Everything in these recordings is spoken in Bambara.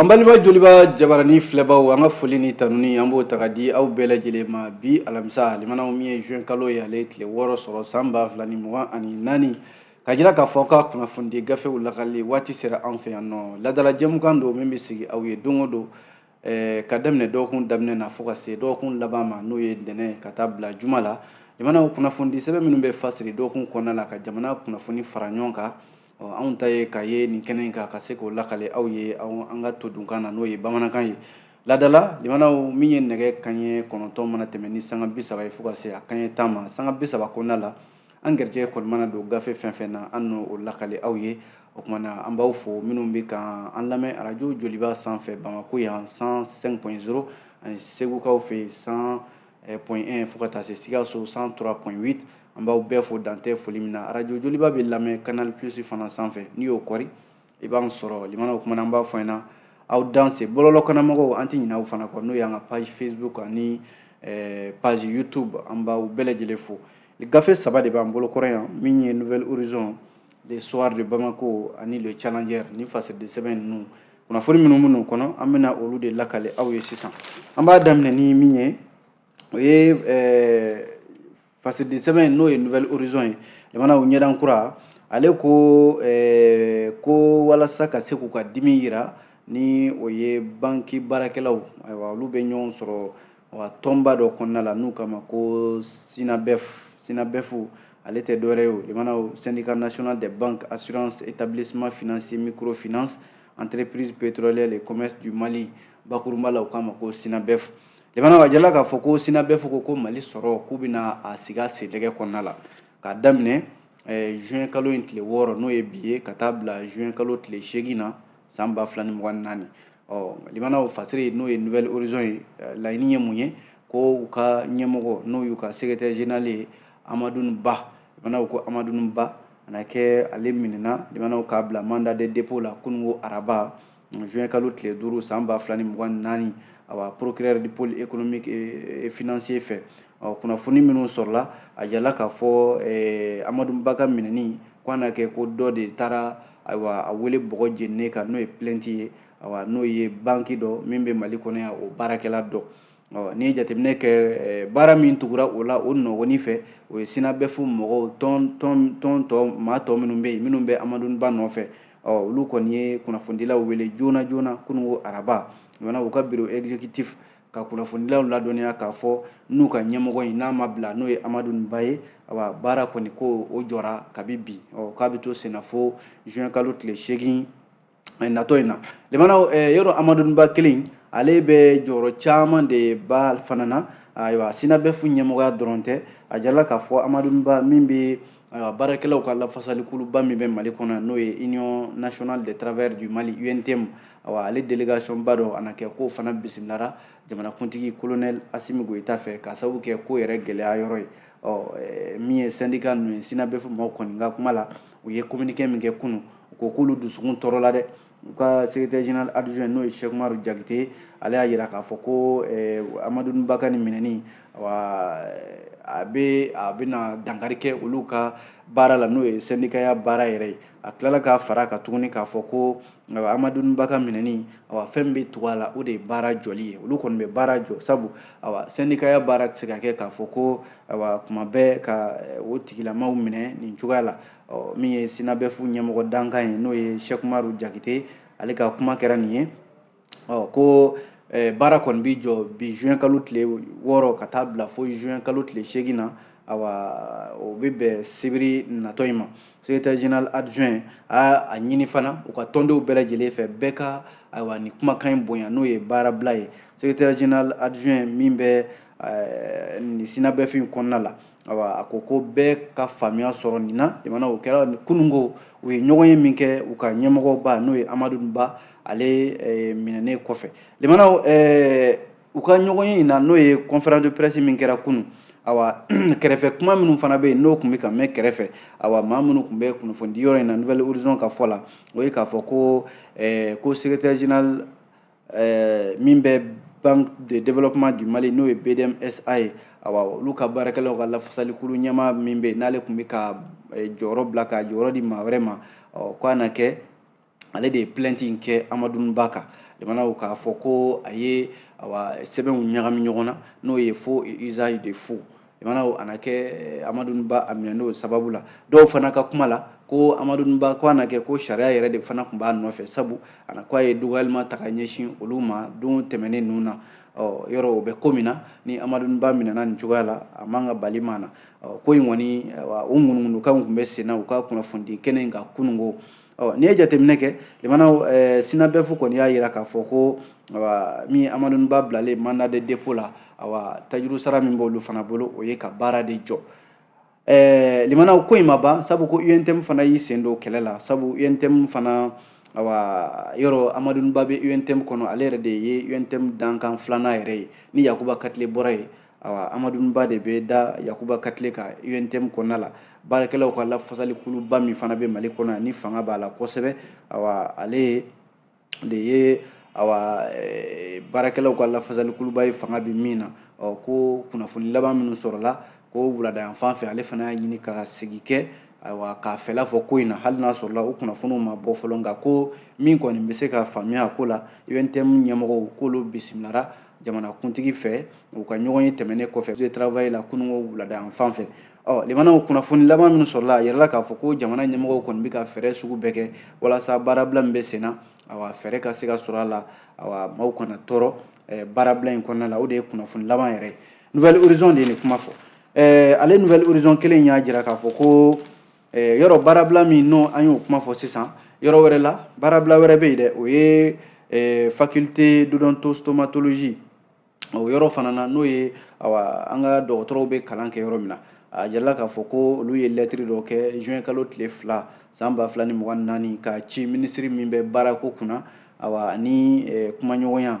An balima joliba jabarani filɛbaw an ka foli ni tanuni an b'o ta ka di aw bɛɛ lajɛlen ma bi alamisa limanaw min ye juin kalo ye ale tile wɔɔrɔ sɔrɔ san ba fila ni mugan ani naani k'a jira k'a fɔ aw ka kunnafonidi gafew lakali waati sera an fɛ yan n'o laadala jɛmukan don min bɛ sigi aw ye don o don eh, ka daminɛ dɔgɔkun daminɛ na fo ka se dɔgɔkun laban ma n'o ye ntɛnɛn ka taa bila juma la limanaw kunnafonidi sɛbɛn minnu bɛ fasiri dɔgɔkun kɔnɔna la ka jamana kunnafoni fara ɲɔgɔn kan anw ta ye ka ye nin kɛnɛ in kan ka se k'o lakale aw ye an ka todunkan na n'o ye bamanankan ye laadala limanaw min ye nɛgɛ kanɲɛ kɔnɔntɔn mana tɛmɛ ni sanga bi saba ye fo ka se a kanɲɛ tan ma sanga bi saba kɔnɔna la an garijɛgɛ kɔni mana don gafe fɛn fɛn na an n'o lakali aw ye o kuma na an b'aw fo minnu bɛ ka an lamɛn arajo joliba sanfɛ bamako yan 105.0 ani segukaw fɛ yen 100 eh, point 1 fo ka taa se sikaso 103.8 an b'aw bɛɛ fo dan tɛ foli min na arajo joliba bɛ lamɛn canal plus fana sanfɛ n'i y'o kɔri i b'an sɔrɔ limana kuma na an b'a fɔ aw ɲɛna aw danse bɔlɔlɔ kanna mɔgɔw an tɛ ɲinɛ aw fana kɔ n'o y'an ka page facebook ani eh, page youtube an b'aw bɛɛ lajɛlen fo gafe saba de b'an bolo kɔrɔ yan min ye nouvel horizon le soir de bamako ani le challenger ni fasiriden sɛbɛn ninnu kunnafoni minnu minnu kɔnɔ an bɛna olu de lakale aw ye sisan an b'a daminɛ ni min ye o ye eh, Fasidi sɛbɛn in n'o ye nouvel horizon ye limanaw ɲɛdan kura ale ko eh, ko walasa ka se k'u ka dimi yira ni o ye banki baarakɛlaw ayiwa olu bɛ ɲɔgɔn sɔrɔ wa tɔnba dɔ kɔnɔna la n'u k'a ma ko synabef ale tɛ dɔwɛrɛ ye o limanaw syndicat national des banques assurance établissement financier microfinance entreprise pétrolière et commerce du mali bakurunba la u k'a ma ko synabef Limanaw a jala k'a fɔ ko synabef ko ko mali sɔrɔ k'u bɛna a sigi a sen dɛgɛ kɔnɔna la k'a daminɛ eh, juin kalo in tile wɔɔrɔ n'o ye bi ye ka taa bila juin kalo tile seegin na san ba fila ni mugan ni naani ɔ limanaw fasiri n'o ye nouvel horizon ye eh, laɲini ye mun ye ko u ka ɲɛmɔgɔ n'o y'u ka secrétaire général ye amadun ba limanaw ko amadun ba a na kɛ ale minɛna limanaw k'a bila mandat de dépôt la kununko araba juin kalo tile duuru san ba fila ni mugan ni naani awa procureur du pôle économique et financier fɛ ɔ kunnafoni minnu sɔrɔla a jala k'a fɔ eh, amadun ba ka minɛni ko a na kɛ ko dɔ de taara ayiwa a wele bɔgɔ jeninen kan n'o ye plainte ye awa n'o ye banki dɔ min bɛ mali kɔnɔ yan o baarakɛla dɔ ɔ n'i ye jateminɛ kɛ eh, baara min tugura o la o nɔgɔni fɛ o ye sinabɛfu mɔgɔw tɔn tɔn tɔn tɔ maa tɔ minnu bɛ yen minnu bɛ amadun ba nɔfɛ ɔ olu kɔni ye kunnafonidilaw wele joona joona kununko araba limanaw u ka bureau exécutif ka kunnafonidilaw ladɔnniya k'a fɔ n'u ka ɲɛmɔgɔ in n'a ma bila n'o ye amadun ba ye awa baara kɔni ko o jɔra kabi bi ɔ k'a bɛ to senna fo juin kalo tile seegin eh, natɔ in na limanaw eh, yɔrɔ amadun ba kelen ale bɛ jɔyɔrɔ caman de ba fana na ayiwa sinabefu ɲɛmɔgɔya dɔrɔn tɛ a jirala k'a fɔ amadun ba min bɛ ayiwa baarakɛlaw ka lafasalikuluba min bɛ mali kɔnɔ n'o ye union nationale des travailleurs du mali untm awa ale délégation ba dɔ a na kɛ k'o fana bisimilara jamanakuntigi kolonɛl asimi goyita fɛ k'a sababu kɛ ko yɛrɛ gɛlɛya yɔrɔ ye ɔ min ye sɛndika ninnu ye sinabefu maaw kɔni ka kuma la u ye communiqué min kɛ kunu u ko k'olu dusukun tɔɔrɔla dɛ u ka secrétaire général adjoint n'o ye Cheikh Umaru Jakite ale y'a jira k'a fɔ ko eh, Amadun Ba ka nin minɛni awa a bɛ a bɛna dankari kɛ olu ka baara la n'o ye sɛndikaya baara yɛrɛ ye a tilala k'a fara kan tuguni k'a fɔ ko nka amadun ba ka minɛni awa fɛn bɛ tugu a la o de ye baara jɔli ye olu kɔni bɛ baara jɔ sabu awa sɛndikaya baara tɛ se ka kɛ k'a fɔ ko awa kuma bɛɛ ka eh, o tigilamaw minɛ nin cogoya la ɔ min ye sinabefu ɲɛmɔgɔ dankan ye n'o ye cheikh umaru jakite ale ka kuma kɛra nin ye ɔ ko eh, baara kɔni bɛ jɔ bi juin kalo tile wɔɔrɔ ka taa bila fo juin kalo tile seegin na awa o bɛ bɛn sibiri natɔ in ma secrétaire général adjoint a a ɲini fana u ka tɔndenw bɛɛ lajɛlen fɛ bɛɛ ka ayiwa nin kumakan in bonya n'o ye baarabila ye secrétaire général adjoint min bɛ eh, nin sinabɛfu in kɔnɔna la ayiwa a ko ko bɛɛ ka faamuya sɔrɔ nin na limanaw o kɛra kununko u ye ɲɔgɔn ye min kɛ u ka ɲɛmɔgɔba n'o ye amadun ba ale eh, minɛnen kɔfɛ limanaw eh, u ka ɲɔgɔnye in na n'o ye conférence de presse min kɛra kunu awa kɛrɛfɛ kuma minnu fana bɛ yen n'o tun bɛ ka mɛn kɛrɛfɛ awa maa minnu tun bɛ kunnafonidi yɔrɔ in na nouvel horizon ka fɔ la o ye k'a fɔ ko eh, ko secrétaire général eh, min bɛ banque de développement du mali n'o ye bdmsa ye awa olu ka baarakɛlaw ka lafasalikulu ɲɛmaa min bɛ yen n'ale tun bɛ ka eh, jɔyɔrɔ bila ka jɔyɔrɔ di maa wɛrɛ ma ɔ k'a na kɛ ale de ye plainte in kɛ amadun ba kan limanaw k'a fɔ ko a ye awa sɛbɛnw ɲagami ɲɔgɔn na n'o ye faux usage de faux limanaw ana kɛ eh, amadun ba a minɛn'o sababu la dɔw fana ka kuma la ko amadun ba ko ana kɛ ko sariya yɛrɛ de fana tun b'a nɔfɛ sabu ana ko a ye dɔgɔyalima ta ka ɲɛsin olu ma don tɛmɛnen ninnu na ɔ yɔrɔ o bɛ ko min na ni amadun ba minɛna nin cogoya la a man ka bali maa na ko in kɔni o ŋunuŋunukanw tun bɛ senna u ka kunnafonidi kɛnɛ in kan kununko ɔ n'i ye jateminɛ kɛ limanaw eh, synabef kɔni y'a jira k'a fɔ ko awa min amadun ba bilalen mandat de dépôt la awa tajuru sara min b'olu fana bolo o ye ka baara de jɔ eh, limanaw ko in ma ban sabu ko untm fana y'i sen don kɛlɛ la sabu untm fana awa yɔrɔ amadun ba bɛ untm kɔnɔ ale yɛrɛ de ye untm dankan filanan yɛrɛ ye ni yakuba katile bɔra yen awa amadun ba de bɛ da yakuba katile kan untm kɔnɔna la baarakɛlaw ka lafasalikuluba min fana bɛ mali kɔnɔ ni fanga b'a la kosɛbɛ awa ale de ye awa eh, baarakɛlaw ka lafasalikuluba ye fanga bɛ min na ɔ ko kunnafoni laban minnu sɔrɔla ko wulada yan fan fɛ ale fana y'a ɲini ka sigi kɛ ayiwa k'a fɛla fɔ ko in na hali n'a sɔrɔla o kunnafoniw ma bɔ fɔlɔ nka ko min kɔni bɛ se ka faamuya a ko la untm ɲɛmɔgɔw k'olu bisimilara jamanakuntigi fɛ u ka ɲɔgɔn ye tɛmɛnen kɔfɛ de travail la kununko wulada yan fan fɛ ɔ limanaw kunnafoni laban minnu sɔrɔla a jirala k'a fɔ ko jamana ɲɛmɔgɔw kɔni bɛ ka fɛɛrɛ sugu bɛɛ kɛ walasa baarabila min bɛ sen na awa fɛɛrɛ ka se ka sɔrɔ a la awa maaw kana tɔɔrɔ eh, baarabila in kɔnɔna la o de ye kunnafoni laban yɛrɛ ye nouvel horizon de ye nin kuma fɔ eh, ale nouvel horizon kelen y'a jira k'a fɔ ko eh, yɔrɔ baarabila min n'o an y'o kuma fɔ sisan yɔrɔ wɛrɛ la baarabila wɛrɛ bɛ yen dɛ o ye eh, faculté d'odontostomatologie o yɔrɔ fana na n'o ye awa an ka dɔgɔtɔrɔw bɛ kalan kɛ yɔrɔ min na a jirala k'a fɔ ko olu ye lɛtiri dɔ kɛ juin kalo tile fila san ba fila ni mugan ni naani k'a ci minisiri min bɛ baarako kunna awa ani eh, kumaɲɔgɔnya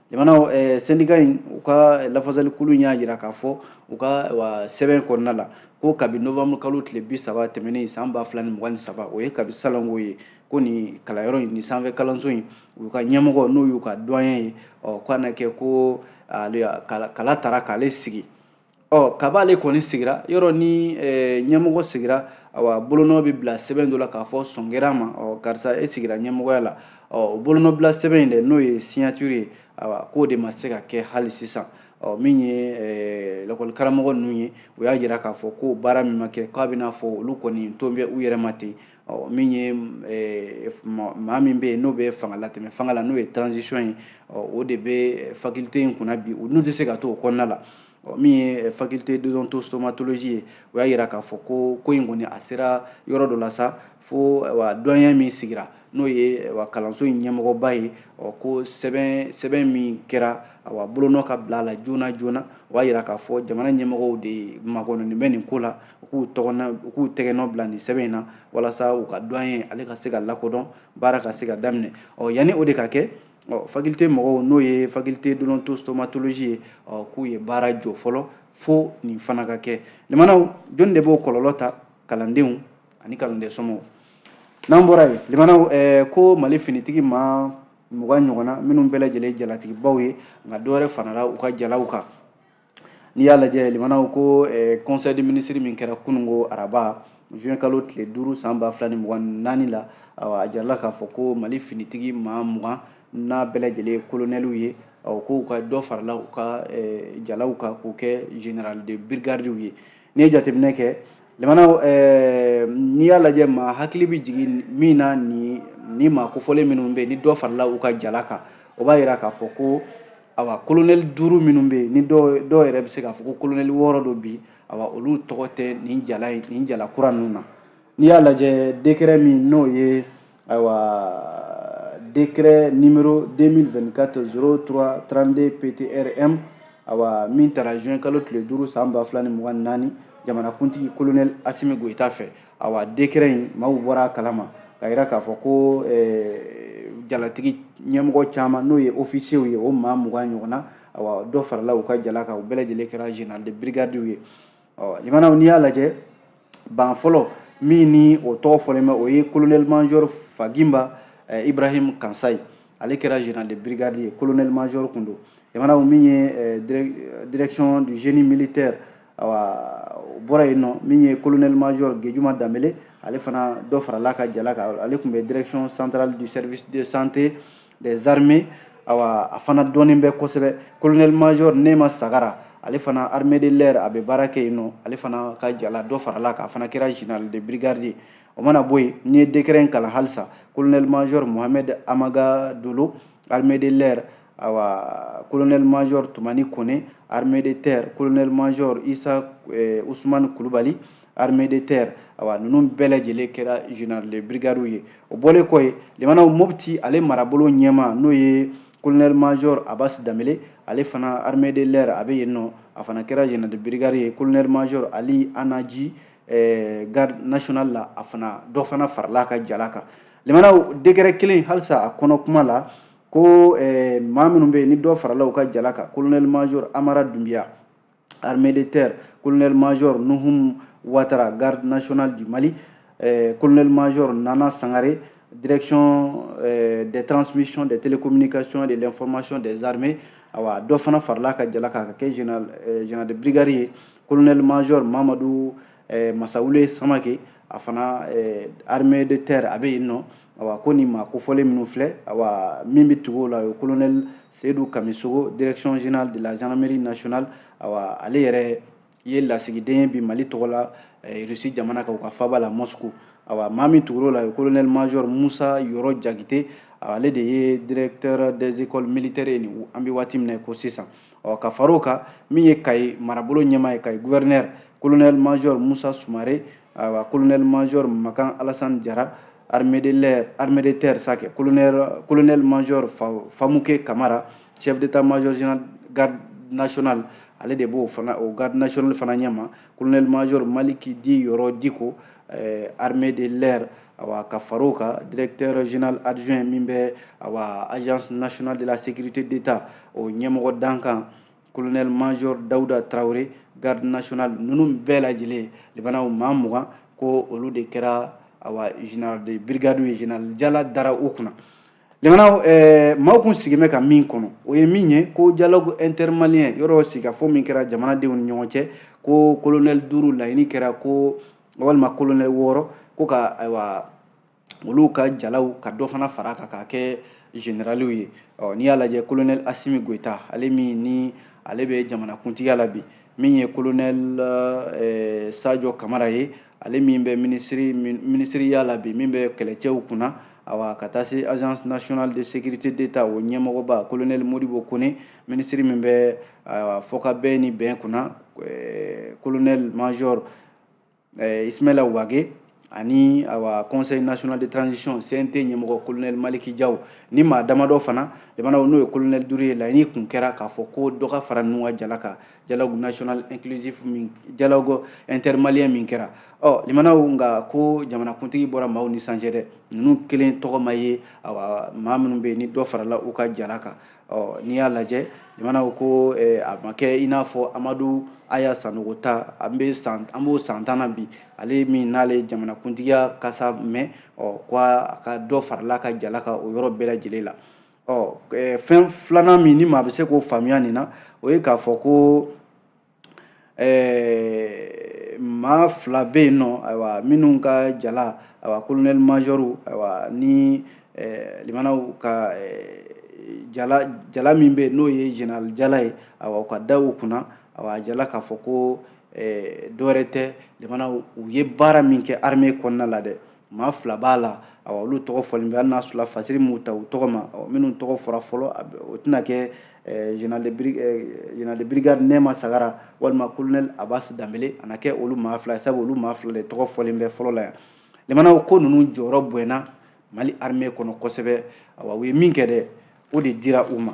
jamana eh, sendika in u ka lafasalikulu y'a jira k'a fɔ u ka wa sɛbɛn kɔnɔna la ko kabi novembre kalo tile bi saba tɛmɛnen san ba fila ni mugan ni saba o ye kabi salon ko ye ko nin kalanyɔrɔ in nin sanfɛ kalanso in u ka ɲɛmɔgɔ n'o y'u ka doyen ye ɔ ko a na kɛ ko kala tara k'ale sigi ɔ kab'ale kɔni sigira yɔrɔ ni eh, ɲɛmɔgɔ sigira awa bolonɔ bɛ bila sɛbɛn dɔ la k'a fɔ sɔn kɛra a ma ɔ karisa e sigira ɲɛmɔgɔya la ɔ o bolonɔbila sɛbɛn in dɛ n'o ye signature ye awa k'o de ma se ka kɛ hali sisan ɔ min ye eh, lakɔli karamɔgɔ ninnu ye u y'a jira k'a fɔ k'o baara min ma kɛ k'a b'i n'a fɔ olu kɔni tolen bɛ u yɛrɛ ma ten ɔ min ye eh, maa min bɛ yen n'o bɛ fanga latɛmɛ fanga la n'o ye transition ye ɔ o de bɛ faculté in kunna bi ninnu tɛ se ka to o kɔnɔna la ɔ min ye eh, faculté d'odontostomatologie ye o y'a jira k'a fɔ ko ko in kɔni a sera yɔrɔ dɔ la sa fo eh, wa doyen min sigira n'o ye wa kalanso in ɲɛmɔgɔba ye ɔ ko sɛbɛn sɛbɛn min kɛra wa bolonɔ ka bila a la joona joona o b'a jira k'a fɔ jamana ɲɛmɔgɔw de makɔnɔni bɛ nin ko la u k'u tɔgɔna u k'u tɛgɛnɔ bila nin sɛbɛn in na walasa u ka doyen ale ka se ka lakodɔn baara ka se ka daminɛ ɔ yanni o de ka kɛ ɔ faculté mɔgɔw n'o ye faculté d'odontostomatologie ye ɔ k'u ye baara jɔ fɔlɔ fo nin fana ka kɛ limanaw jɔnni de b'o kɔlɔlɔ ta kalandenw ani kalanden somɔgɔw n'an bɔra yen limanaw eh, ko mali finitigi maa mugan ɲɔgɔnna minnu bɛɛ lajɛlen jalatigibaw ye nka dɔwɛrɛ farala u ka jalaw kan n'i y'a lajɛ limanaw ko eh, conseil des ministres min kɛra kununko araba juin kalo tile duuru san ba fila ni mugan ni naani la awa a jirala k'a fɔ ko mali finitigi maa mugan n'a bɛɛ lajɛlen ye kolonɛliw ye awa k'u ka dɔ farala u ka eh, jalaw kan k'u kɛ général de brigadiw ye n'i ye jateminɛ kɛ limanaw eh, n'i y'a lajɛ maa hakili bɛ jigin min na ni ni maa kofɔlen minnu bɛ yen ni dɔ farala u ka jala kan o b'a yira k'a fɔ ko awa kolonɛli duuru minnu bɛ yen ni dɔw yɛrɛ bɛ se k'a fɔ ko kolonɛli wɔɔrɔ don bi awa olu tɔgɔ tɛ nin jala in nin jala kura ninnu na n'i y'a lajɛ décret min n'o ye awa décret numéro 2024 03 32 ptrm awa min tara juin kalo tile duuru san ba fila ni mugan ni naani jamanakuntigi kolonɛli asimi goyita fɛ awa décret in maaw bɔra a kalama k'a yira k'a fɔ ko eh, jalatigi ɲɛmɔgɔ caman n'o ye ofisiyew ye o maa mugan ɲɔgɔnna awa dɔ farala u ka jala kan u bɛɛ lajɛlen kɛra général de brigadiw ye limanaw n'i y'a lajɛ ban fɔlɔ min ni o tɔgɔ fɔlen bɛ o ye colonel major fagimba eh, ibrahim kansayi ale kɛra général de brigade ye colonel major kun don limanaw min ye eh, direction du génie militaire o bɔra yen nɔ min ye colonel major Gejuma Danbele ale fana dɔ farala ka jala kan ale kun bɛ direction centrale du service de santé des armées awa a fana dɔnnen bɛ kosɛbɛ colonel major Nema Sagara ale fana armée de l'air a bɛ baara kɛ yen nɔ ale fana ka jala dɔ farala kan a fana kɛra général de brigade ye o mana bɔ yen n'i ye décret in kalan halisa colonel major Mohamed Amaga Dolo armée de l'air awa colonel major tumani kone armée de terre colonel major isa eh, usumani kulubali armée de terre awa ninnu bɛɛ lajɛlen kɛra général de brigadiw ye o bɔlen kɔ yen limanaw mopti ale marabolo ɲɛmaa n'o ye colonel major abas danbele ale fana armée de l'air a bɛ yen nɔ a fana kɛra général de brigade ye colonel major ali anaji eh, garde nationale la a fana dɔ fana farala ka jala kan limanaw décret kelen halisa a kɔnɔ kuma la ko eh, maa minnu bɛ yen ni dɔ farala u ka jala kan colonel major amara dunbiya armée de terre colonel major nuhum watara garde nationale du mali eh, colonel major nana sangare direction eh, des transmissions des télécommunications et de l'information des armées awa dɔ fana faral'a ka jala kan k'a kɛ général eh, général de brigade ye colonel major mamadu eh, masawule samake a fana eh, armée de terre a bɛ yen nɔ awa ko nin maa kofɔlen minnu filɛ awa min bɛ tugu o la o ye colonel seyidu kamisogo direction générale de la gendarmerie nationale awa ale yɛrɛ ye lasigiden ye bi mali tɔgɔ la eh, rusi jamana kan u ka faaba la moscou awa maa min tugur'o la o ye colonel major musa yɔrɔ jagite ale de ye directeur des écoles militaires ye nin an bɛ waati min na ko sisan ɔ ka far'o kan min ye kayi marabolo ɲɛmaa ye kayi guvɛrinɛri kolonɛli majɔr musa sumare ayiwa kolonɛli majɔr makan alasani jara armée de terre sakɛ kolonɛli majɔr famuke kamara chef d'état major général garde nationale ale de b'o fana o garde nationale fana ɲɛmaa kolonɛli majɔr maliki dit yɔrɔ diko eh, armée de l'air awa ka far'o kan directeur général adjoint min bɛ awa agence nationale de la sécurité d'état o ɲɛmɔgɔ dankan colonel major dawuda tarawele garde nationale ninnu bɛɛ lajɛlen limanaw maa mugan ko olu de kɛra awa général de brigade ye général jala dara u kunna jamana eh, maaw kun sigin bɛ ka min kɔnɔ o ye min ye ko dialogue intermalien yɔrɔ sigikafɔ min kɛra jamanadenw ni ɲɔgɔn cɛ ko kolonɛli duuru laɲini kɛra ko walima kolonɛli wɔɔrɔ ko ka ayiwa olu ka jalaw ka dɔ fana far'a kan k'a kɛ generaliw ye n'i y'a lajɛ kolonɛli asimi goyita ale min ni ale bɛ jamanakuntigiya la bi min ye kolonɛli eh, sajɔ kamara ye ale min bɛ minisiri minisiriya la bi min bɛ kɛlɛcɛw kunna awa ka taa se agence nationale de sécurité d'état o ɲɛmɔgɔba kolonɛli modibo kone minisiri min bɛ fɔkabɛn ni bɛn kunna kolonɛli major eh, ismaila wage ani awa conseil national de transition cnt ɲɛmɔgɔ colonel maliki jaw ni maa damadɔ fana limanaw n'o ye colonel duuru ye laɲini kun kɛra k'a fɔ ko dɔ ka fara ninnu ka jala kan dialogue national inclusif min dialogue intermalien min kɛra ɔ limanaw nka ko jamanakuntigi bɔra maaw ni san cɛ dɛ ninnu kelen tɔgɔ ma ye awa maa minnu bɛ yen ni dɔ farala u ka jala kan ɔ n'i y'a lajɛ limanaw ko eh, a ma kɛ i n'a fɔ amadu aya sanogo ta an bɛ san an b'o san tan na bi ale min n'ale jamanakuntigiya kasa mɛn ɔ ko a ka dɔ faral'a ka jala kan o yɔrɔ bɛɛ lajɛlen la ɔ eh, fɛn filanan min ni maa bɛ se k'o faamuya nin na o ye k'a fɔ ko ɛɛ maa fila bɛ yen nɔ ayiwa minnu ka jala ayiwa kolonɛli mazɔriw ayiwa ni limanaw ka jala jala min bɛ yen n'o ye jenerali jala ye ayiwa u ka da u kunna ayiwa a jirala k'a fɔ ko dɔwɛrɛ tɛ limanaw u ye baara min kɛ arime kɔnɔna la dɛ maa fila b'a la awa olu tɔgɔ fɔlen bɛ hali n'a sɔrɔla fasiri m'u ta u tɔgɔ ma minnu tɔgɔ fɔra fɔlɔ o tɛna kɛ général de brigade Nɛma Sagara walima colonel Abas Danbele a na kɛ olu maa fila ye sabu olu maa fila de tɔgɔ fɔlen bɛ fɔlɔ la yan limanaw ko ninnu jɔyɔrɔ bonyana Mali armée kɔnɔ kosɛbɛ awa u ye min kɛ dɛ o de dira u ma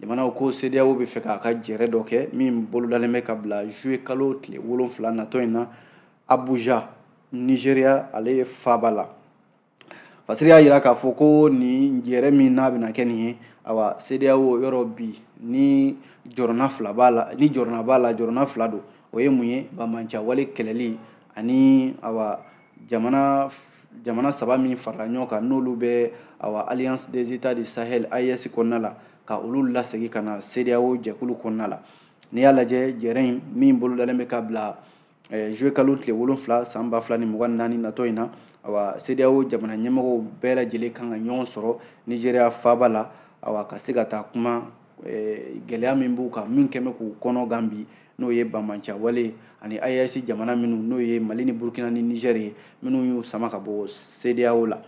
jamanaw ko CEDEAO bɛ fɛ k'a ka jɛrɛ dɔ kɛ min bolodalen bɛ ka bila juillet kalo tile wolonfila natɔ in na Abuja Nigeria ale faaba la Fasiri y'a jira k'a fɔ ko nin jɛrɛ min n'a bɛna kɛ nin ye awa CEDEAO yɔrɔ bi ni jɔrɔna fila b'a la ni jɔrɔna b'a la jɔrɔna fila don o ye mun ye banbancawale kɛlɛli ani awa jamana saba min farala ɲɔgɔn kan n'olu bɛ awa alliance des états du sahel AES kɔnɔna la ka olu lasegin ka na CEDEAO jɛkulu kɔnɔna la n'i y'a lajɛ jɛrɛ in min bolodalen bɛ ka bila eh, juillet kalo tile wolonfila san ba fila ni mugan naani natɔ in na awa CEDEAO jamana ɲɛmɔgɔw bɛɛ lajɛlen kan ka ɲɔgɔn sɔrɔ nizeriya faaba la awa ka se ka taa kuma eh, gɛlɛya min b'u kan min kɛlen bɛ k'u kɔnɔ gan bi n'o ye bamanca wale ani AES jamana minnu n'o ye mali ni burkina ni niger ye minnu y'u sama ka bɔ CEDEAO la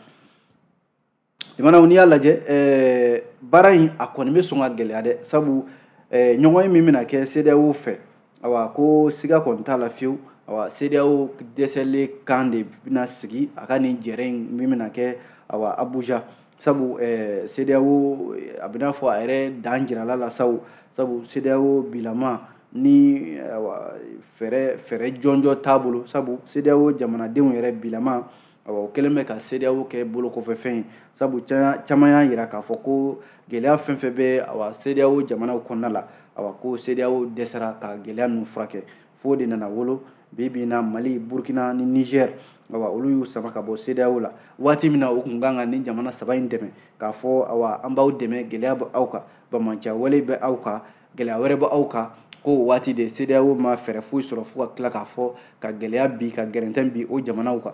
jamanaw n'i y'a lajɛ eh, baara in a kɔni bɛ sɔn ka gɛlɛya dɛ sabu eh, ɲɔgɔnye min bɛna kɛ CEDEAO fɛ awa ko siga kɔni t'a la fewu awa CEDEAO dɛsɛlen kan de bɛna sigi a ka nin jɛrɛ in min bɛna kɛ awa Abuja sabu eh, CEDEAO a bɛ n'a fɔ a yɛrɛ dan jiral'a la sabu sabu CEDEAO bilama ni awa fɛɛrɛ fɛɛrɛ jɔnjɔn t'a bolo sabu CEDEAO jamanadenw yɛrɛ bilama awa o kɛlen bɛ ka CEDEAO kɛ bolokɔfɛfɛn ye sabu caman y'a jira k'a fɔ ko gɛlɛya fɛn fɛn bɛ awa CEDEAO jamanaw kɔnɔna la awa ko CEDEAO dɛsɛra ka gɛlɛya ninnu furakɛ f'o de nana wolo bi bi in na Mali Burkina ni Niger awa olu y'u sama ka bɔ CEDEAO la waati min na u tun kan ka nin jamana saba in dɛmɛ k'a fɔ awa an b'aw dɛmɛ gɛlɛya bɛ aw kan bamancawale bɛ aw kan gɛlɛya wɛrɛ bɛ aw kan k'o waati de CEDEAO ma fɛɛrɛ foyi sɔrɔ fo ka tila k'a fɔ ka gɛlɛya bin ka gɛrɛntɛ bin o jamanaw kan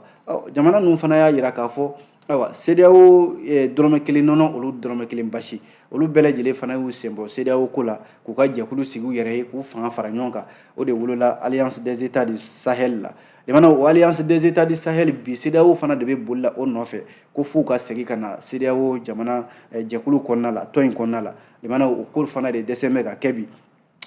jamana ninnu fana y'a jira k'a fɔ ayiwa CEDEAO eh, dɔrɔmɛ kelen nɔnɔ olu dɔrɔmɛ kelen basi olu bɛɛ lajɛlen fana y'u sen bɔ CEDEAO ko la k'u ka jɛkulu sigi u yɛrɛ ye k'u fanga fara ɲɔgɔn kan o de wolola Alliance des États du Sahel la jamanaw o Alliance des États du Sahel bi CEDEAO fana de bɛ boli la o nɔfɛ ko f'u ka segin ka na CEDEAO jamana eh, jɛkulu kɔnɔna la tɔn in kɔnɔna la jamana o ko fana de dɛsɛ bɛ ka kɛ bi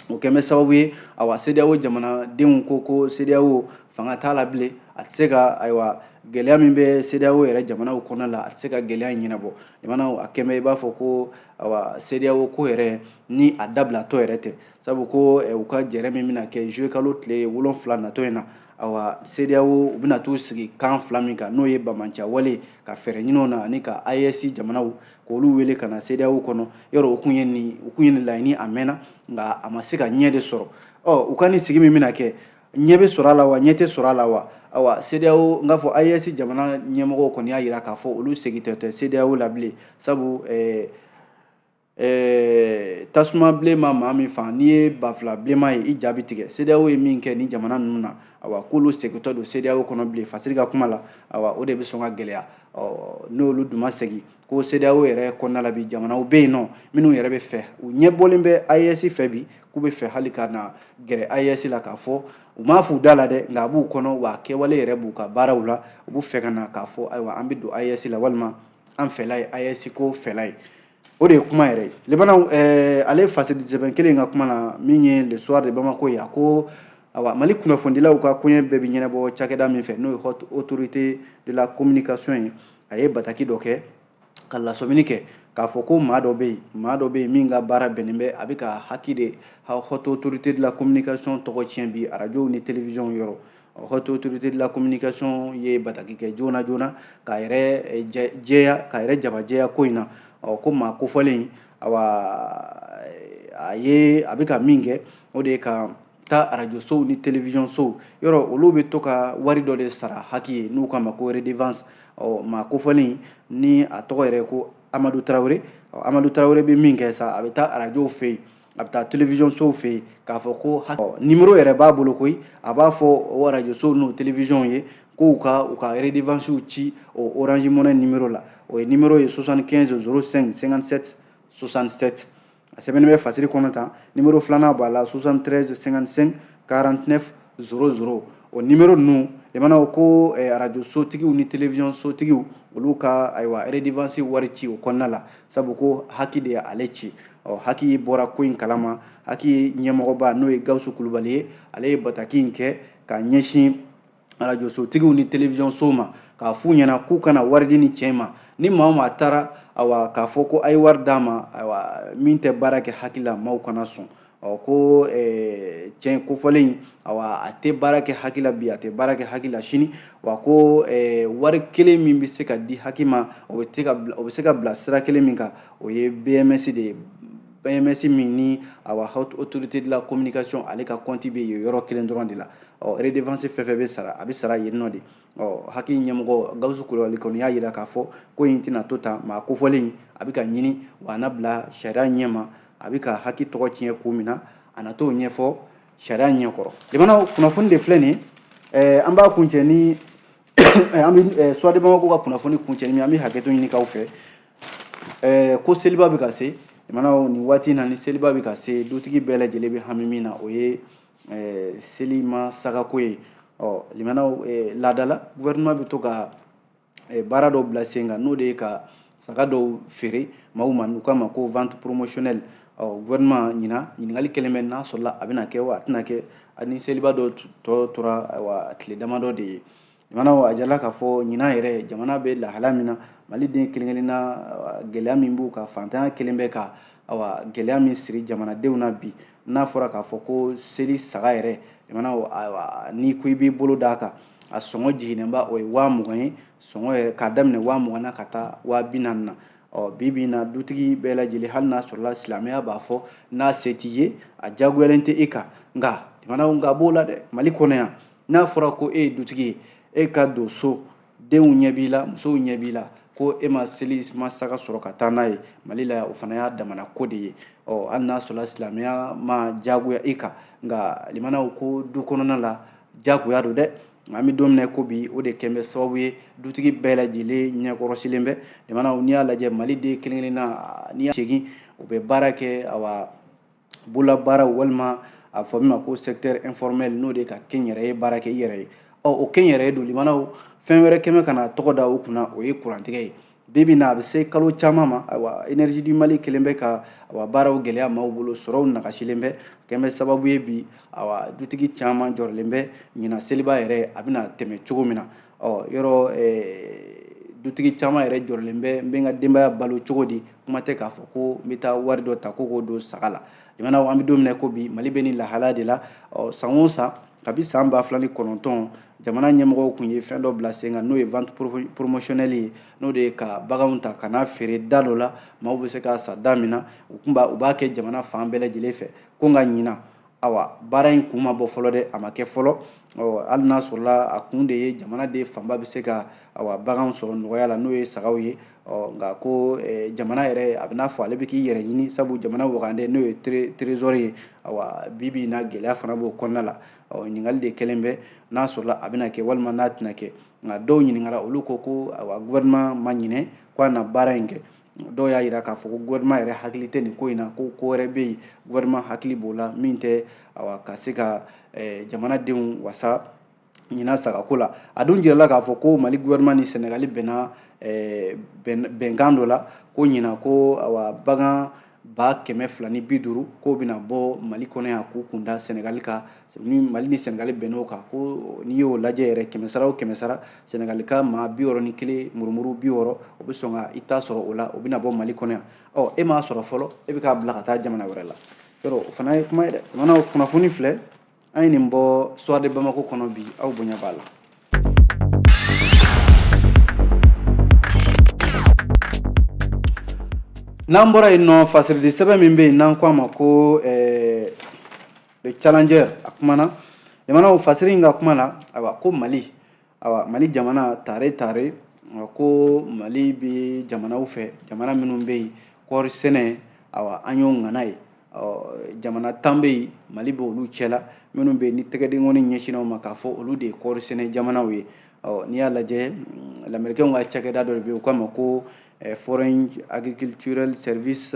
o kɛn bɛ sababu ye awa CEDEAO jamanadenw ko ko CEDEAO fanga t'a la bilen a tɛ se ka ayiwa gɛlɛya min bɛ CEDEAO yɛrɛ jamanaw kɔnɔna la a tɛ se ka gɛlɛya in ɲɛnabɔ jamanaw a kɛn bɛ i b'a fɔ ko awa CEDEAO ko yɛrɛ ni a dabilatɔ yɛrɛ tɛ sabu ko u ka jɛrɛ min bɛna kɛ juillet kalo tile wolonfila natɔ in na awa CEDEAO u bɛna t'u sigi kan fila min kan n'o ye bamanciya wale ka fɛɛrɛ ɲini o na ani ka AES jamanaw k'olu wele ka na CEDEAO kɔnɔ yɔrɔ o kun ye nin o kun ye nin laɲini a mɛnna nka a ma se ka ɲɛ de sɔrɔ ɔ u ka nin sigi min bɛna kɛ ɲɛ bɛ sɔrɔ a la wa ɲɛ tɛ sɔrɔ a la wa awa CEDEAO n k'a fɔ AES jamana ɲɛmɔgɔw kɔni y'a jira k'a fɔ olu segintɔ tɛ CEDEAO la bilen sabu ɛɛ ɛɛ tasuma bilenman maa min fan n'i ye banfula bilenman ye i ja bɛ tigɛ CEDEAO ye min kɛ nin jamana ninnu na awa k'olu segintɔ don CEDEAO kɔnɔ bilen fasiri ka kuma la awa o de bɛ sɔn ka gɛlɛya n'olu dun ma segin ko CEDEAO yɛrɛ kɔnɔna la bi jamanaw bɛ yen nɔ minnu yɛrɛ bɛ fɛ u ɲɛbɔlen bɛ AES fɛ bi k'u bɛ fɛ hali ka na gɛrɛ AES la k'a fɔ u m'a f'u da la dɛ nka a b'u kɔnɔ wa kɛwale yɛrɛ b'u ka baaraw la u b'u fɛ ka na k'a fɔ ayiwa an bɛ don AES la walima an fɛla ye AES ko fɛla ye o de ye kuma yɛrɛ ye laban na eh, ale fasiri sɛbɛn kelen ka kuma la min ye le soir de bamako ye a ko awa mali kunnafonidilaw ka koɲɛ bɛɛ bɛ ɲɛnabɔ cakɛda min fɛ n'o ye haute autorité de la communication ye a ye bataki dɔ kɛ ka lasɔmini kɛ k'a fɔ ko maa dɔ bɛ yen maa dɔ bɛ yen min ka baara bɛnnen bɛ a bɛ ka haki de haute autorité de la communication tɔgɔ tiɲɛ bi arajow ni télévision yɔrɔ haute autorité de la communication ye bataki kɛ joona joona k'a yɛrɛ eh, jɛya k'a yɛrɛ jabajɛya ko in na ɔ ko maa kofɔlen awa eh, a ye a bɛ ka min kɛ o de ye ka taa arajo sow ni télévision sow yɔrɔ olu bɛ to ka wari dɔ de sara haki ye n'u k'a ma ko redevance ɔ maa kofɔlen ni a tɔgɔ yɛrɛ ko amadu tarawele amadu tarawele bɛ min kɛ sa a bɛ taa arajow fɛ yen a bɛ taa télévision sow fɛ yen k'a fɔ ko numéro yɛrɛ b'a bolo koyi a b'a fɔ o radio sow n'o télévisionw ye k'u ka u ka redevance ci o orange money numéro la o ye numéro ye 75 05 57 67 a sɛbɛnnen bɛ fasiri kɔnɔ tan numéro filanan b'a la 73 55 49 00 o numéro ninnu i mana o ko eh, arajo sotigiw ni télévision sotigiw olu ka ayiwa redevance wari ci o kɔnɔna la sabu ko haki de ye ale ci ɔ haki bɔra ko in kalama haki ɲɛmɔgɔba n'o ye gawusu kulubali ye ale ye bataki in kɛ k'a ɲɛsin arajosotigiw ni télévision sow ma k'a f'u ɲɛna k'u kana wari di nin cɛ in ma ni maa o maa taara awa k'a fɔ ko a ye wari d'a ma awa min tɛ baara kɛ haki la maaw kana sɔn ɔ ko tiɲɛ kofɔlen awa a tɛ baara kɛ hac la bi a tɛ baara kɛ hac la sini wa ko wari kelen min bɛ se ka di hac ma o bɛ se ka bila sira kelen min kan o ye bms de ye bms min ni awa haute autorité de la communication ale ka compte bɛ yen yɔrɔ kelen dɔrɔn de la ɔ redevance fɛn fɛn bɛ sara a bɛ sara yen nɔ de ɔ hac ɲɛmɔgɔ gawusu kulubali kɔni y'a jira k'a fɔ ko in tɛna to tan maa kofɔlen a bɛ ka ɲini wa a na bila sariya ɲɛma a bɛ ka hac tɔgɔ tiɲɛ ko min na a na t'o ɲɛfɔ sariya ɲɛkɔrɔ jamana kunnafoni de filɛ nin ye an b'a kuncɛ ni an bɛ suwadi bamako ka kunnafoni kuncɛ ni an bɛ hakɛto ɲini k'aw fɛ ko seliba bɛ ka se jamanaw nin waati in na ni seliba bɛ ka se dutigi bɛɛ lajɛlen bɛ hami min na o ye selima sagako ye ɔ limanaw laadala gouvernement bɛ to ka eh, baara dɔw bila sen kan n'o de ye ka saga dɔw feere maaw ma n'u k'a ma ko vente promotionnelle ɔ gouvernement ɲinan ɲininkali kɛlen bɛ n'a sɔrɔla a bɛna kɛ wa a tɛna kɛ ani seliba don tɔ tora ayiwa tile damadɔ de ye jamanaw a jirala k'a fɔ ɲinan yɛrɛ jamana bɛ lahala min na maliden kelen kelenna gɛlɛya min b'u kan faantanya kɛlen bɛ ka awa gɛlɛya min siri jamanadenw na bi n'a fɔra k'a fɔ ko seli saga yɛrɛ mana n'i ko i b'i bolo d'a kan a sɔngɔ jiginnenba o ye waa mugan ye sɔngɔ yɛrɛ k'a daminɛ waa mugan na ka taa waa bi naani na ɔ bi bi in na dutigi bɛɛ lajɛlen hali n'a sɔrɔla silamɛya b'a fɔ n'a se t'i ye a diyagoyalen tɛ e kan nka jamanaw nka b'o la dɛ mali kɔnɔ yan n'a fɔra ko e ye dutigi ye e ka don so denw ɲɛ b'i la musow ɲɛ b'i la ko e ma selima saga sɔrɔ ka taa n'a ye mali la o fana y'a damana ko de ye ɔ hali n'a sɔrɔla silamɛya ma jagoya i kan nka limanaw ko du kɔnɔna la jagoya don dɛ an bɛ don min na ko bi o de kɛlen bɛ sababu ye dutigi bɛɛ lajɛlen ɲɛkɔrɔsilen bɛ limanaw n'i y'a lajɛ maliden kelen-kelenna n'i y'a segin u bɛ baara kɛ awa bololabaara walima a fɔ min ma ko secteur informel n'o de ka kɛnyɛrɛye baara kɛ i yɛrɛ ye ɔ o kɛnyɛrɛye don limanaw fɛn wɛrɛ kɛlen bɛ ka na tɔgɔ da o kunna o ye kurantigɛ ye bi bi in na a bɛ se kalo caman ma ayiwa energie du mali kɛlen bɛ ka awa baaraw gɛlɛya maaw bolo sɔrɔw nagasilen bɛ kɛlen bɛ sababu ye bi awa dutigi caman jɔrɔlen bɛ ɲinan seliba yɛrɛ a bɛna tɛmɛ cogo min na ɔ yɔrɔ dutigi caman yɛrɛ jɔrɔlen bɛ n bɛ n ka denbaya balo cogo di kuma tɛ k'a fɔ ko n bɛ taa wari dɔ ta ko k'o don saga la jamana an bɛ don min na ko bi mali bɛ nin lahalaya de la ɔ san o san kabi san ba fila ni kɔnɔntɔn jamana ɲɛmɔgɔw tun ye fɛn dɔ bila sen kan n'o ye vente promotionnelle ye n'o de ye ka baganw ta ka n'a feere da dɔ la maaw bɛ se k'a san da min na u tun b'a u b'a kɛ jamana fan bɛɛ lajɛlen fɛ ko nka ɲinan awa baara in kun ma bɔ fɔlɔ dɛ a ma kɛ fɔlɔ hali n'a sɔrɔla a kun de ye jamanaden fanba bɛ se ka awa baganw sɔrɔ nɔgɔya la n'o ye sagaw ye nka ko jamana yɛrɛ a bɛ n'a fɔ ale bɛ k'i yɛrɛ ɲini sabu jamana wagande n'o ye trésor ye awa bi bi in na gɛlɛya fana b'o kɔnɔna la ɲininkali de kɛlen bɛ n'a sɔrɔla a bɛna kɛ walima n'a tɛna kɛ nka dɔw ɲininkala olu ko ko awa gouvernement ma ɲinɛ ko a na baara in kɛ dɔw y'a jira k'a fɔ ko gouvernement yɛrɛ hakili tɛ nin ko in na ko ko wɛrɛ bɛ yen gouvernement hakili b'o la min tɛ awa ka se ka eh, jamanadenw wasa ɲina sagako la a dun jirala k'a fɔ ko mali gouvernement ni sɛnɛgali bɛnna eh, bɛnkan dɔ la ko ɲina ko awa bagan ba kɛmɛ fila ni bi duuru k'o bɛna bɔ mali kɔnɔ yan k'u kun da sɛnɛgali kan ni mali ni senegali bɛnn'o kan ko n'i y'o lajɛ yɛrɛ kɛmɛsara o kɛmɛsara senegali ka maa bi wɔɔrɔ ni kelen murumuru bi wɔɔrɔ o bɛ sɔn ka i ta sɔrɔ o la o bɛna bɔ mali kɔnɔ yan ɔ e m'a sɔrɔ fɔlɔ e bɛ k'a bila ka taa jamana wɛrɛ la yɔrɔ o fana ye kuma ye dɛ jamana kunnafoni filɛ an ye nin bɔ soir de bamako kɔnɔ bi aw bonya b'a la n'an bɔra yen nɔ fasiridi sɛbɛn min bɛ yen n'an ko a ma ko ɛɛ eh, le challenger a kumana jamana o fasiri in ka kuma la ayiwa ko mali ayiwa mali jamana tare tare ko mali bɛ jamanaw fɛ jamana minnu bɛ yen kɔɔri sɛnɛ ayiwa an y'o ŋana ye jamana tan bɛ yen mali bɛ olu cɛla minnu bɛ yen ni tɛgɛdenkɔni ɲɛsinna o ma k'a fɔ olu de ye kɔɔri sɛnɛ jamanaw ye n'i y'a lajɛ mm, lamɛrikɛnw ka cakɛda dɔ de bɛ yen u k'a ma ko eh, foreign agricultural service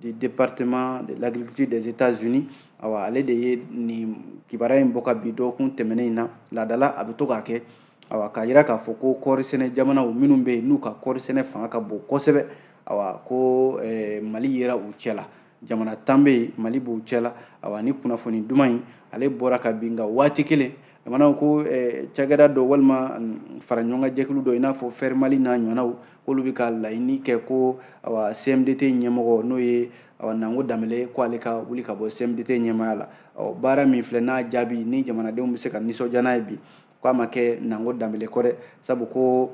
du département de l'agriculture des États-Unis awa ale de ye nin kibaruya in bɔ ka bi dɔgɔkun tɛmɛnen in na laadala a bɛ to k'a kɛ awa k'a yira k'a fɔ ko kɔɔri sɛnɛ jamanaw minnu bɛ yen n'u ka kɔɔri sɛnɛ fanga ka bon kosɛbɛ awa ko eh, mali yera u cɛ la jamana tan bɛ yen mali b'u cɛ la awa ni kunnafoni duman in ale bɔra ka bin nka waati kelen jamanaw ko eh, cakɛda dɔ walima mm, faraɲɔgɔnkan jɛkulu dɔ i n'a fɔ FER mali n'a ɲɔgɔnnaw k'olu bɛ ka laɲini kɛ ko awa CMDT ɲɛmɔgɔ n'o ye awa Nango Danbɛlɛ ko ale ka wuli ka bɔ CMDT ɲɛmaaya la ɔ baara min filɛ n'a jaabi ni jamanadenw bɛ se ka nisɔndiya n'a ye bi k'a ma kɛ Nango Danbɛlɛ kɔ dɛ sabu ko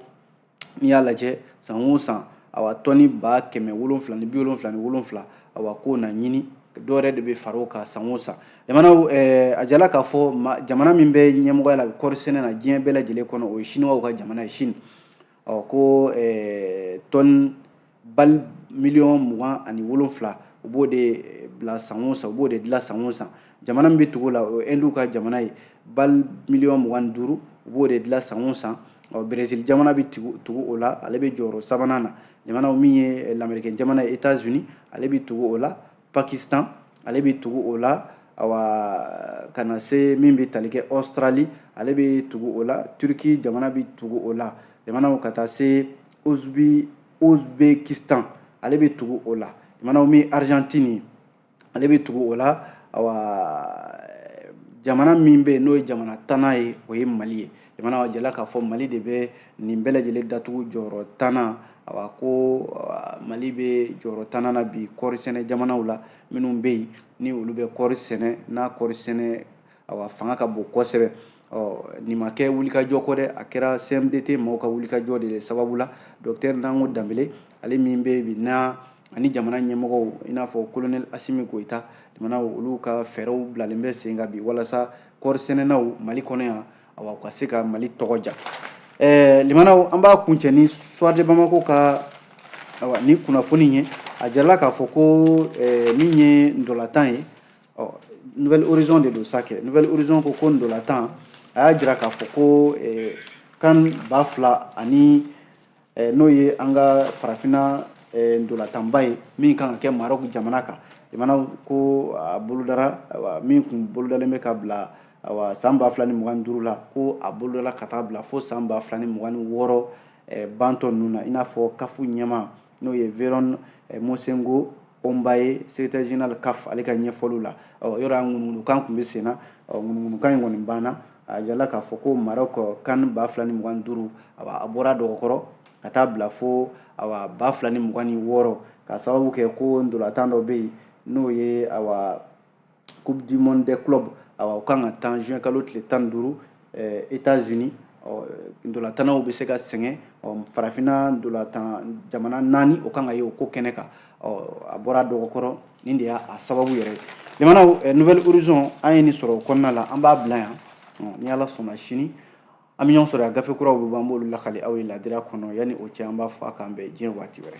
n'i y'a lajɛ san o san awa tɔni ba kɛmɛ wolonfila ni bi wolonfila ni wolonfila awa k'o na ɲini dɔw yɛrɛ de bɛ fara o kan san o san jamanaw eh, a jirala k'a fɔ jamana min bɛ ɲɛmɔgɔya la kɔɔri sɛnɛ na diɲɛ bɛɛ lajɛlen kɔnɔ o ye siniwaw ka jamana ye sini ɔ ko eh, tɔni bali miliyɔn mugan ani wolonfila u b'o de eh, bila san o san u b'o de dilan san o san jamana min bɛ tugu la o ɛndiw ka jamana ye bali miliyɔn mugan ni duuru u b'o de dilan san o san ɔ berezili jamana bɛ tugu o la ale bɛ jɔyɔrɔ sabanan na jamana min ye eh, lamerikɛn jamana ye etats unis ale bɛ tugu o la pakistan ale bɛ tugu o la awa ka na se min bɛ tali kɛ australie ale bɛ tugu o la turki jamana bɛ tugu o la jamanaw ka taa se uzbi uzbekistan ale bɛ tugu o la jamanaw min argentine ale bɛ tugu o la awa jamana min bɛ yen n'o ye jamana tannan ye o ye mali ye jamana jirala k'a fɔ mali de bɛ nin bɛɛ lajɛlen datugu jɔyɔrɔ tannan awa ko mali bɛ jɔyɔrɔ tannan na bi kɔɔri sɛnɛ jamanaw la minnu bɛ yen ni olu bɛ kɔɔri sɛnɛ n'a kɔɔri sɛnɛ awa fanga ka bon kosɛbɛ ɔ nin ma kɛ wulikajɔ kɔ dɛ a kɛra cmdt maaw ka wulikajɔ de sababu la dɔktɛri nango danbɛlɛ ale min bɛ bi na ani jamana ɲɛmɔgɔw i n'a fɔ kolonɛli asimi goyita jamanaw olu ka fɛɛrɛw bilalen bɛ sen kan bi walasa kɔɔri sɛnɛnaw mali kɔnɔ yan awa u ka se ka mali tɔgɔ diya ɛɛ limanaw an b'a kuncɛ ni soir de bamako ka awa ni kunnafoni ye a jirala k'a fɔ ko ɛɛ min ye ndɔlatan ye ɔ nouvelle horizon de don sa kɛ nouvelle horizon ko ko ndɔlatan a y'a jira k'a fɔ ko ɛɛ CAN ba fila ani eh, n'o ye an ka farafina eh, ntolatanba ye min kan ka kɛ marok jamana kan jamanaw ko a bolodara min tun bolodalen bɛ ka bila awa san ba fila ni mugan ni duuru la ko a bolodara ka taa bila fo san ba fila ni mugan ni wɔɔrɔ eh, bantɔ ninnu na i n'a fɔ CAF ɲɛmaa n'o ye veron eh, mosengo Omba ye secrétaire général CAF ale ka ɲɛfɔliw la yɔrɔ yan ŋunuŋunukan tun bɛ sen na ŋunuŋunukan in kɔni banna a jirala k'a fɔ ko Maroc CAN ba fila ni mugan ni duuru a bɔra dɔgɔkɔrɔ ka taa bila fo awa ba fila ni mugan ni wɔɔrɔ ka sababu kɛ ko ndolatan dɔ bɛ yen n'o ye awa coupe du monde des clubs awa o kan ka tan juin kalo tile tan ni duuru eh, états unis ɔ ndolatannaw bɛ se ka sɛgɛn ɔ farafinna ndolatan jamana naani o kan ka ye o ko kɛnɛ kan ɔ a bɔra dɔgɔkɔrɔ nin de y'a sababu yɛrɛ ye jamanaw eh, nouvelle horizon an ye nin sɔrɔ o kɔnɔna la an b'a bila yan ni ala sɔnna sini an bɛ ɲɔgɔn sɔrɔ yan gafe kuraw bɛ bɔ an b'olu lakali aw ye ladira kɔnɔ yanni o cɛ an b'a fɔ a k'an bɛn diɲɛ waati wɛrɛ